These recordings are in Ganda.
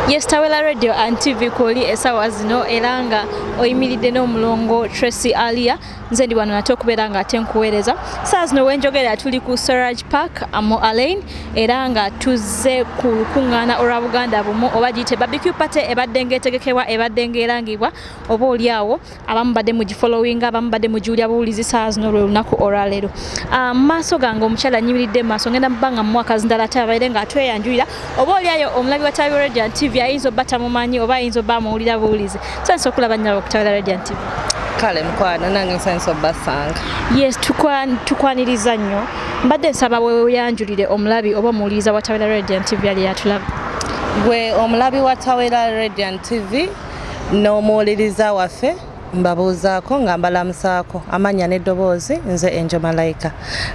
Yes, Tawela Radio and TV kwoli esawa zino era nga oyimiridde n'omulongo Tracy Alia nze ndi wano nate okubeera nga ate nkuweereza saa zino wenjogera tuli ku Swaraj Park Amo Alain era nga tuzze ku lukuŋŋaana olwa Buganda bumu oba giyite barbecue party ebadde ng'etegekebwa ebadde ng'erangibwa oba olyawo abamu badde mu gifollowing abamu badde mu giwulya buwulizi saa zino lwe lunaku olwaleero ah, mu maaso gange omukyala nyimiridde mu maaso ngenda mubanga mu mwaka zindala ate abaire nga atweyanjulira oba oliayo omulabi wa tabi radiant tv ayinza obba tamumanyi oba ayinza obba amuwulira buwulizi nsanyusa okulaba nyaba okutawira radiant tv kale mukwano nange nsanyusa obbasanga yes tukwaniriza nnyo mbadde nsaba weyanjulire omulabi oba omuwuliriza wa tawira radiant tv yali yatulaba gwe omulabi wa tawira radiant tv n'omuwuliriza waffe mbabuuzaako nga mbalamusaako amannya n'eddoboozi nze enjo malayika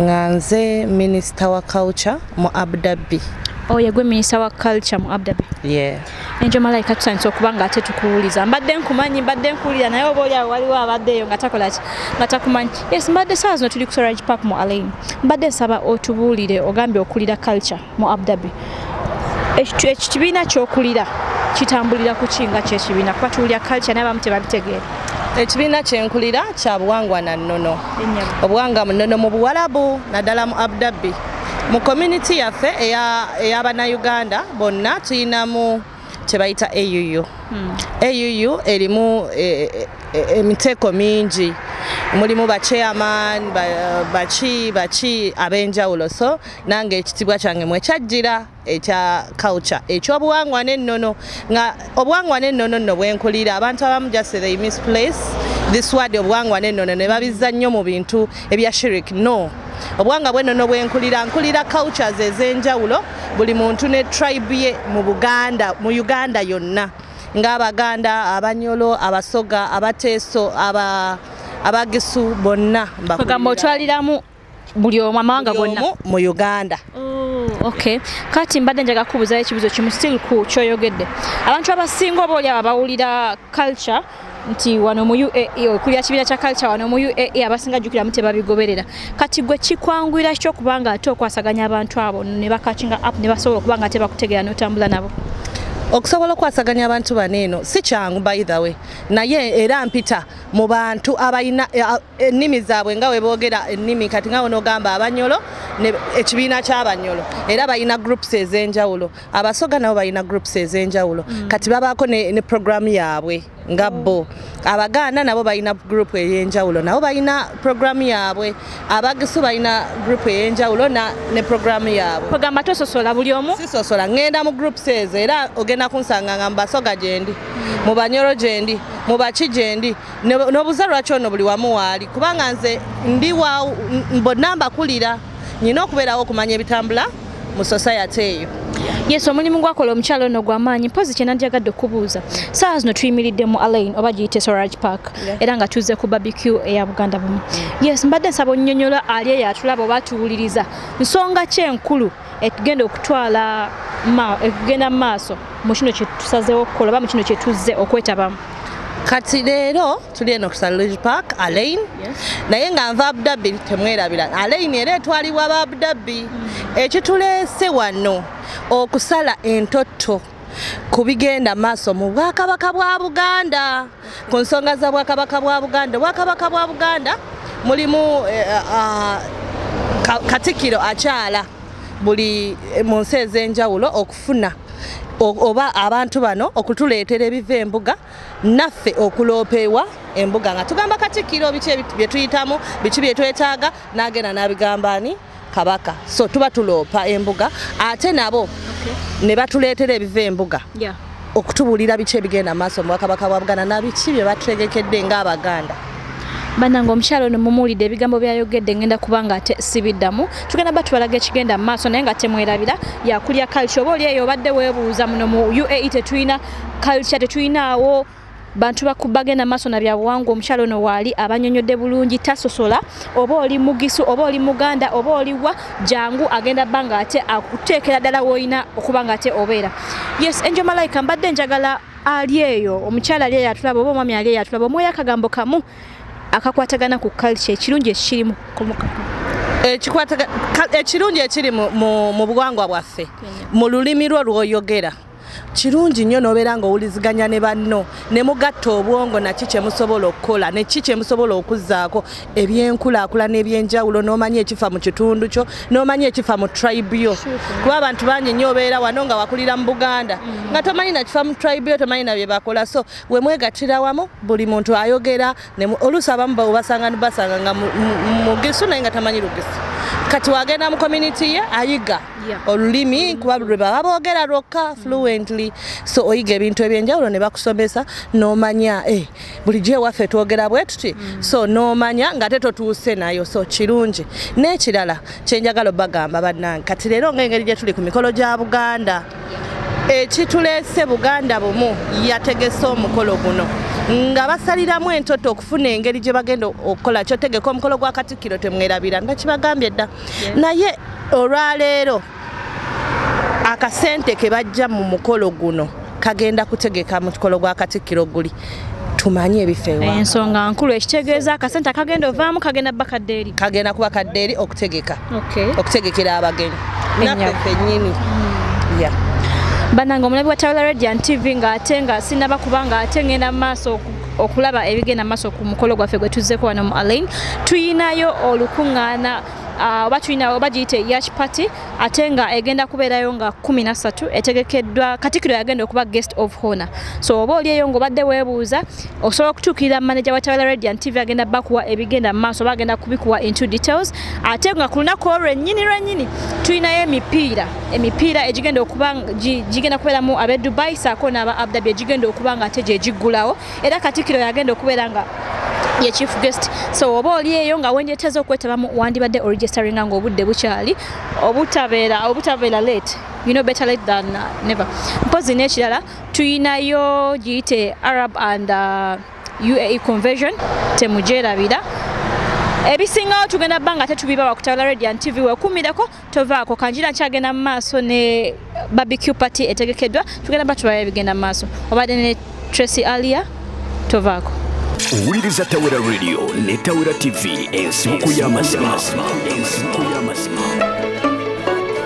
nga nze minisita wa culture mu abdabbi oyo oh, yegwe minisita wa culture mu abdabbi enjo malayika tutandise okuba nga ate tukuwuliza mbadde nkumanyi mbadde nkuwulira naye oba oli awo waliwo abadde eyo nga takola ki nga takumanyi yes mbadde saawa zino tuli ku sorage park mu alain mbadde nsaba otubuulire ogambye okulira culture mu Abu Dhabi ekibiina kyokulira kitambulira ku kinga kyekibiina kuba tuwulira culture naye abamu tebabitegeera ekibiina kyenkulira kya buwangwa na nnono obuwangwa mu nnono mu buwalabu naddala mu Abu Dhabi mu community yaffe eyabanauganda bonna tulinamu kyebayita AUU hmm. AUU erimu e, e, e, emiteeko mingi mulimu ba chairman baki baki abenjawulo so nange ekitibwa kyange mwe kyajjira ekya culture ekyobuwangwa n'ennono nga obuwangwa n'ennono nno bwenkulira abantu abamu just they misplace this word obuwangwa n'ennono ne babizza nnyo mu bintu ebya shirik no obuwanga bwe nono bwenkulira nkulira cultures ez'enjawulo buli muntu ne tribe ye mu buganda mu uganda yonna ng'abaganda abanyolo abasoga abateeso aba abagisu bonna mbakugamba otwaliramu buli omu amawanga gonna mu uganda oh, okay kati mbadde njaga kubuzayo ekibuzo kimu still ku kyoyogedde abantu abasinga oba oli abawulira culture nti wano mu uae okulya kibiina kya culture wano mu uae abasinga jukiramu tebabigoberera kati gwe kikwanguyira kityo okuba nga ate okwasaganya abantu abo ne bakakinga app ne basobola okuba nga tebakutegeera n'otambula nabo okusobola okwasaganya abantu bano eno si kyangu by the way naye era mpita mu bantu abalina ennimi zaabwe nga weboogera ennimi kati nga wonogamba abanyolo ekibiina kyabanyolo era balina groups ez'enjawulo abasoga nabo balina groups ez'enjawulo mm. kati babaako ne program yaabwe nga oh. bo abaganda nabo balina group ey'enjawulo nabo balina program yaabwe abagisu balina group ey'enjawulo ne program yaabwe ogamba tososola buli omu sisosola ŋŋenda mu groups ezo era ogenda kunsanga nga mubasoga gyendi mm. mu banyolo gyendi mu baki gyendi nobuza lwaki ono buli wamu waali kubanga nze ndi bonna mbakulira nyina okubeerawo okumanya ebitambula mu society eyo yes omulimu gwakola omukyalo ono gwamaanyi mpozi kyenandyagadde okubuuza saawa zino tuyimiridde mu alain oba giyite sorage park era nga tuzze ku barbecue eya buganda bumu yes mbadde nsaba onyonyola ali eyo atulaba oba atuwuliriza nsonga kyenkulu ekugenda okutwala ekugenda mu maaso mu kino kyetusazeewo okukola oba mu kino kyetuzze okwetabamu kati leero tuli eno ku saluge park alain naye nga nva abudabbi temwerabira alain era etwalibwa ba abudabbi mm. ekituleese wano okusala entotto ku bigenda maaso mu bwakabaka bwa buganda ku nsonga za bwakabaka bwa buganda obwakabaka bwa buganda mulimu eh, ah, ah, katikiro akyala buli eh, mu nsi ez'enjawulo okufuna oba abantu bano okutuleetera ebiva embuga naffe okuloopewa embuga nga tugamba katikiro biki bye tuyitamu biki bye twetaaga n'agenda n'abigamba ani kabaka so tuba tuloopa embuga ate nabo okay. ne batuleetera ebiva embuga yeah. okutubuulira biki ebigenda maaso mubwakabaka bwa buganda nabiki bye batutegekedde ngaabaganda banange omukyalo ono mumuwulidde ebigambo byayogedde ngenda kuba nga ate sibiddamu tugenda ba tubalaga ekigenda mu maaso naye nga temwerabira yakulya culture oba oli eyo obadde weebuuza muno mu uae tetulina culture tetulinaawo bantu bakubagenda maaso na byabuwangwa omukyalo ono waali abanyonyodde bulungi tasosola oba oli mugisu oba oli muganda oba oliwa jangu agenda ba nga ate akuteekera ddala woolina okuba nga ate obeera yes enjo malayika mbadde njagala ali eyo omukyala ali eyo atulaba oba omwami ali eyo atulaba omwoyo akagambo kamu akakwatagana ku kalca ekirungi ekikirimu ekirungi ekiri mu buwangwa bwaffe mu lulimi lwo lwoyogera kirungi nnyo n'obeera ng'owuliziganya ne banno ne mugatta obwongo naki kye musobola okukola ne ki kye musobola okuzzaako ebyenkulaakulana eby'enjawulo n'omanya ekifa mu kitundu kyo n'omanya ekifa mu tribe yo kuba abantu bangi nnyo obeera wano nga wakulira mu buganda nga tomanyi nakifa mu tribe yo tomanyi na bye bakola so we mwegattira wamu buli muntu ayogera oluusi abamu basanga nibasanga nga mugisu naye nga tamanyi lugisu kati wagenda mu community ye ayiga olulimi kuba lwebaba boogera lwokka fluently so oyiga ebintu ebyenjawulo ne bakusomesa nomanya eh, bulijjo ewaffe twogera bwe tuti mm. so nomanya ngate totuuse nayo so kirungi n'ekirala kyenjagala obagamba bannange kati leero ngaengeri gye tuli ku mikolo gya buganda ekituleese buganda bumu yategese omukolo guno nga basaliramu entoto okufuna engeri gye bagenda okukola kyotegeka omukolo gwa katikkiro temwerabira nga kibagambye dda naye olwaleero akasente ke bajja mu mukolo guno kagenda kutegeka mukolo gwa katikkiro guli tumanye ebifa ewa ensonga nkulu ekitegeeza akasente akagenda ovaamu kagenda bakadde eri kagenda kuba kadde eri okutegeka okutegekera abagenyi naffe fenyini hmm. banange omulabi wa tawula radian tv ng'ate nga sinaba kuba ng'ate ngenda mu maaso oku okulaba ebigenda maaso ku mukolo gwaffe gwe tuzzeko wano mu alain tuyinayo olukuŋŋaana ah, oba tulina oba giyite yash party ate nga egenda kubeerayo nga kumi na ssatu etegekeddwa katikiro yagenda okuba guest of honor so oba oli eyo ngaobadde weebuuza osobola okutuukirira manaja wa tawala radiant tv agenda bakuwa ebigenda mu maaso oba agenda kubikuwa into details ate nga ku lunaku olwo lwennyini lwennyini tulinayo emipiira emipiira egigenda okuba gigenda kubeeramu ab'e dubai saako n'aba abdabi egigenda okuba nga ate gye giggulawo era katikiro yagenda okubeera nga ye chief guest so oba oli eyo nga wendyeteza okwetabamu wandibadde oregisteringa nga obudde bukyali obutabeera obutabeera late you know better late than uh, never mpozi n'ekirala tuyinayo giyite arab and uh, uae conversion temugyerabira ebisingawo tugenda bba nga tetubibawa kutabula radiant tv wekumireko tovaako kanjira nkyagenda mu maaso ne barbecue party etegekeddwa tugenda batulayo ebigenda mu maaso obadde ne tracy alia tovaako owuliriza tawera radio ne tawera tv ensibuko y'amazima